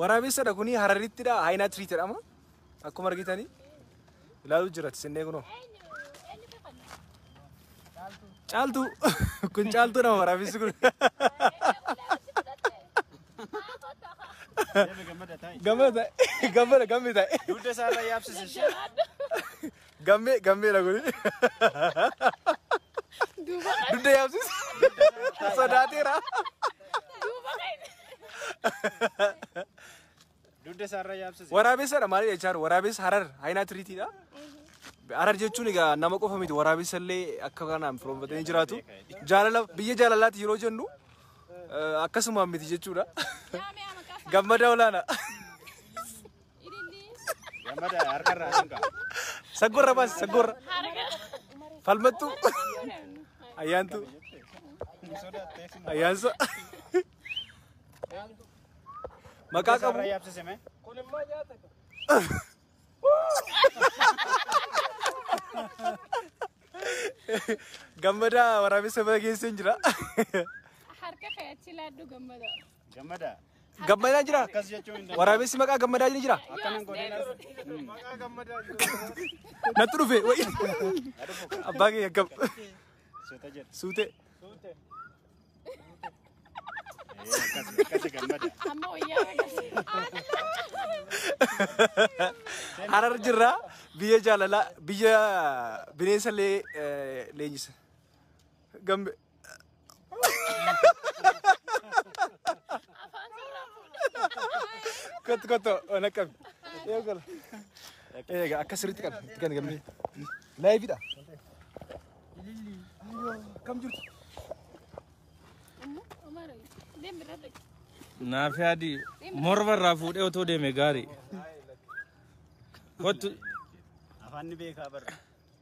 Waraabessadha kuni hararittidha haayinaa tiriit jedhama. Akkuma argitanii ilaaluu jira tisinnee kunoo. Caaltuu kun caaltuu nama waraabessi kun. Gammada gammada gammada. Dugda isaarra yaabsise ishee. Gammee gammee na godhi. Dugda yaabsis. Sodaateera. Dugda isaarra yaabsise. Waraabessadha maali jechaa jiru? Waraabessa harar haayinaa tiriitiidha. Harar jechuun egaa nama qofa miti waraabessa illee akka kanaan firoomfatanii jiraatu. Jaalala biyya jaalalaati yeroo jennu eh, akkasuma miti jechuudha. Gammadaa olaanaa. Saggorra baasi saggorra. Falmattu. Ayyaantu. Ayyaansa. Maqaa qabu. Gammadaa waraabessa bageesseen jira. Harka kee achi laaddu gammada. Gammadaa. Gammadaan jira? Akkas jechuun hin danda'amu. Waraabessi maqaa gammadaa ni jira? Akkanan godheen as. Natti dhufe. wayi. Abbaa kee akkam? Suuta jedha. Suute. Ee, akkas akkasi gammada. Amma wayyaa agarsiisa. Harar jirra. Biyya jaalalaa, biyya bineensa lee- eh, leenjisa. Gambe. Kottu kottu ona qabi. Yoo gala. Eega akka sirriitti qabi. Itti kenni gambe. Laayifiidha. Kam jirtu? Naafi adii morma irraa fuudhee otoo deeme gaarii. Kottu Afaan ni beekaa barra.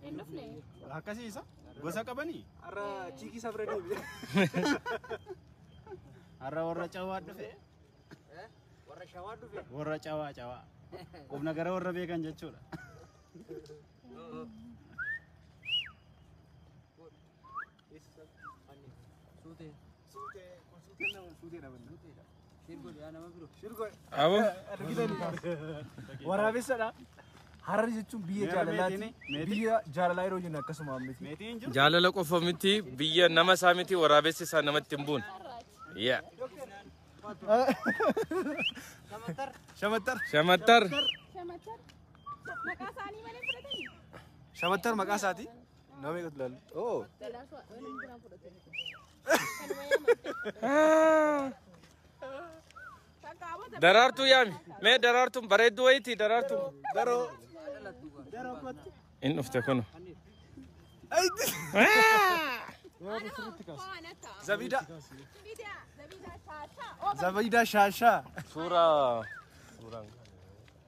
Hin dhufne. Akkasii isa gosa qabanii? Har'a chiikii isaa bira deebi'e. Har'a warra cawaa dhufe. Warra shawaa dhufe. Warra cawaa cawaa. Qubna gara warra beekan jechuudha. Abo. Waraabessadha. Hararri jechuun biyya jaalalaati. Biyya jaalalaa yeroo jennu akkasuma miti. Jaalala qofa miti biyya nama isaa miti waraabessi isaa namatti hin buune. Yeah. Shamattar. Shamattar. Maqaa isaanii malee fudhatanii? Shamattar maqaa isaati. Nama eegatu ilaalu. Oo. Daraartuu yaami. Mee daraartuun bareedduu wayiiti daraartuun. Daroo. Daroo kottu. Inni dhufte kun. Zabida. Zabida shaashaa. Suuraa. Suuraan.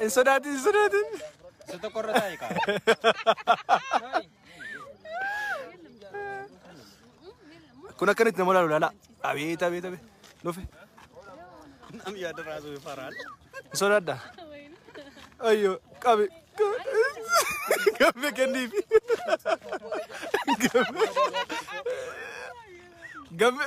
Hin sodaatin, hin sodaatin. Isa tokko irra taa'e kaa. Kun akkanitti nama laalu laala. Abeet, abeet, abeet. Dhufe. Nam yaada raasuu faraan. Hin sodaadha. Ayyo, qabi. Gamme kenniif. Gamme. Gamme.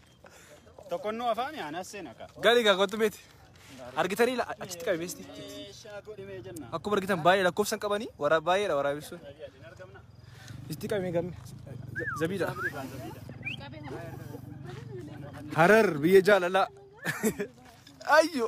Tokkonnoo afaan aanaa seena ka. Gali gaa kottu beeti. Argitanii la- achitti qabi beesti. Meeshaa godhi mee jenna. Akkuma argitan baay'ee lakkoofsan qabanii waraa baay'eedha waraabessuun. Hin argamna. Itti qabee gamme. Zabiidha. Harar biyya jaalalaa. Ayyo.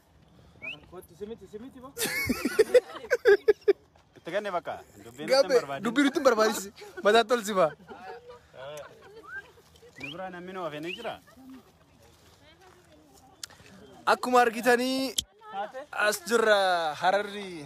Kottu simiti simiti ba. Itti ganne bakka. Dubbiin nutti hin barbaadin. Dubbii nutti hin barbaadisi. Mataa tolsi ba. Nu biraa namni nu hafee ni jira. Akkuma argitanii as jirra hararri.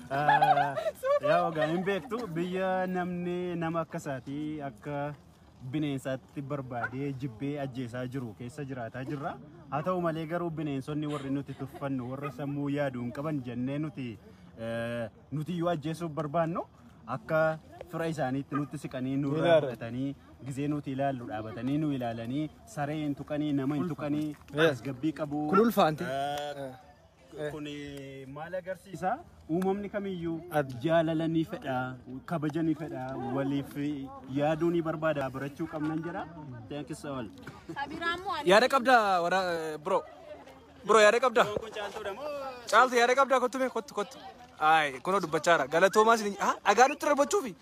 Yaa ogaa hin beektu biyya namni nama akka isaatii akka bineensaatti barbaadee jibbee ajjeesaa jiru keessa jiraataa jirra. Haa ta'u malee garuu bineensonni warri nuti tuffannu warra sammuu yaadu hin qaban jennee nuti eh, nuti yoo ajjeesuuf barbaannu akka fira isaaniitti nutti siqanii nu irraa Ilaala. fudhatanii gizee nuti ilaallu dhaabatanii nu ilaalanii saree hin tuqanii nama hin tuqanii tasgabbii qabu. Kun ulfaante. Eh, Kun maal agarsiisa? Uumamni kamiyyuu jaalala ni fedha, kabaja ni fedha, waliif yaaduu ni barbaada, barachuu qabnan jedha. Thank you so much. Yaada qabda wara bro. Bro yaada qabda. Caaltu yaada qabda kottu mee kottu kottu. Ay kunoo dubbachaa jira. Galatoomaa isin ah dhagaa nutti darbachuufi.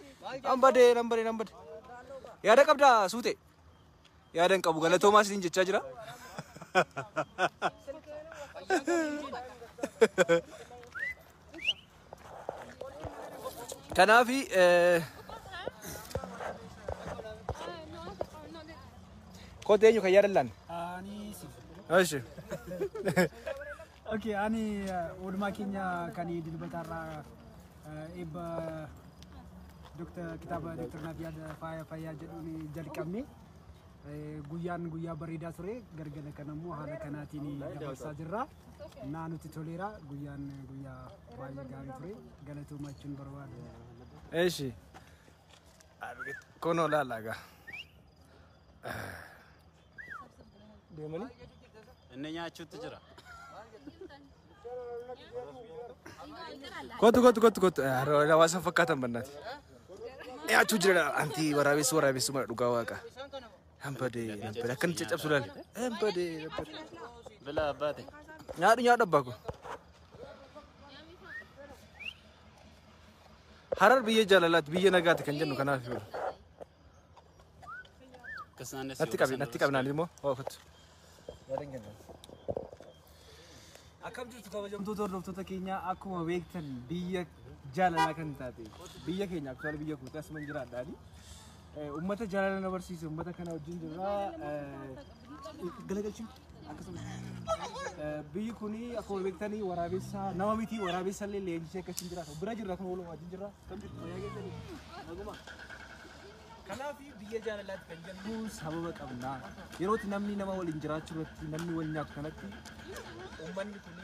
Nan badee nan badee nan badee. Yaada qabda suutee. yaadan qabu galatoomaa isiniin jechaa jira. Kanaaf eh, koota eenyu kan yaadan laanne? Ani si. Eshi. Ok, ani oolmaa keenya kan dilbataarraa eebba Dr. kitaaba Dr. Nafiyaad Faaya Fayyaa jedhuun jalqabne. Guyyaan guyyaa bareedaa ture gargala kan ammoo haala kanaatiin dabarsaa jirra. Naa nutti toleera guyyaan guyyaa baay'ee gaarii ture galatoomaa jechuun barbaada. Eeshi. Kunoo laalagaa. Deemanii? Inni nyaachuutti jira. Kottu kottu kottu kottu. Hawaasa fakkaatan bannaati. Nyaachuu jira anti waraabessu waraabessu mara dhugaa waaqa. Hambade hambade akkan caccabsu laale. Hambade hambade. Bila abbaate. Nyaadhu nyaadhu abbaa koo. Harar biyya jaalalaati biyya nagaati kan jennu kanaaf yoo. Natti qabi, natti qabi naan immoo hoo kottu. Akkam jirtu kabajamtoota hordoftoota keenyaa akkuma beektan biyya jaalalaa kan taate biyya keenya aktuwaal biyya kooti asuma hin jiraadhaani. Uummata jaalala na barsiise uummata kana wajjin jirra. Galagalchuu. akkasumas biyyi kun akkuma beektanii waraabessa nama miti waraabessa illee leenjisee akka isin jiraatu bira jirra kun waluma wajjin jirra kan jirtu fayyaa keessanii naguma. Kanaaf biyya jaalalaatti kan jennu sababa qabna. Yerootti namni nama waliin jiraachuu irratti namni wal nyaatu kanatti uummanni kun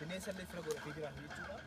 bineensa illee fira godhatee jiraatu jechuudha.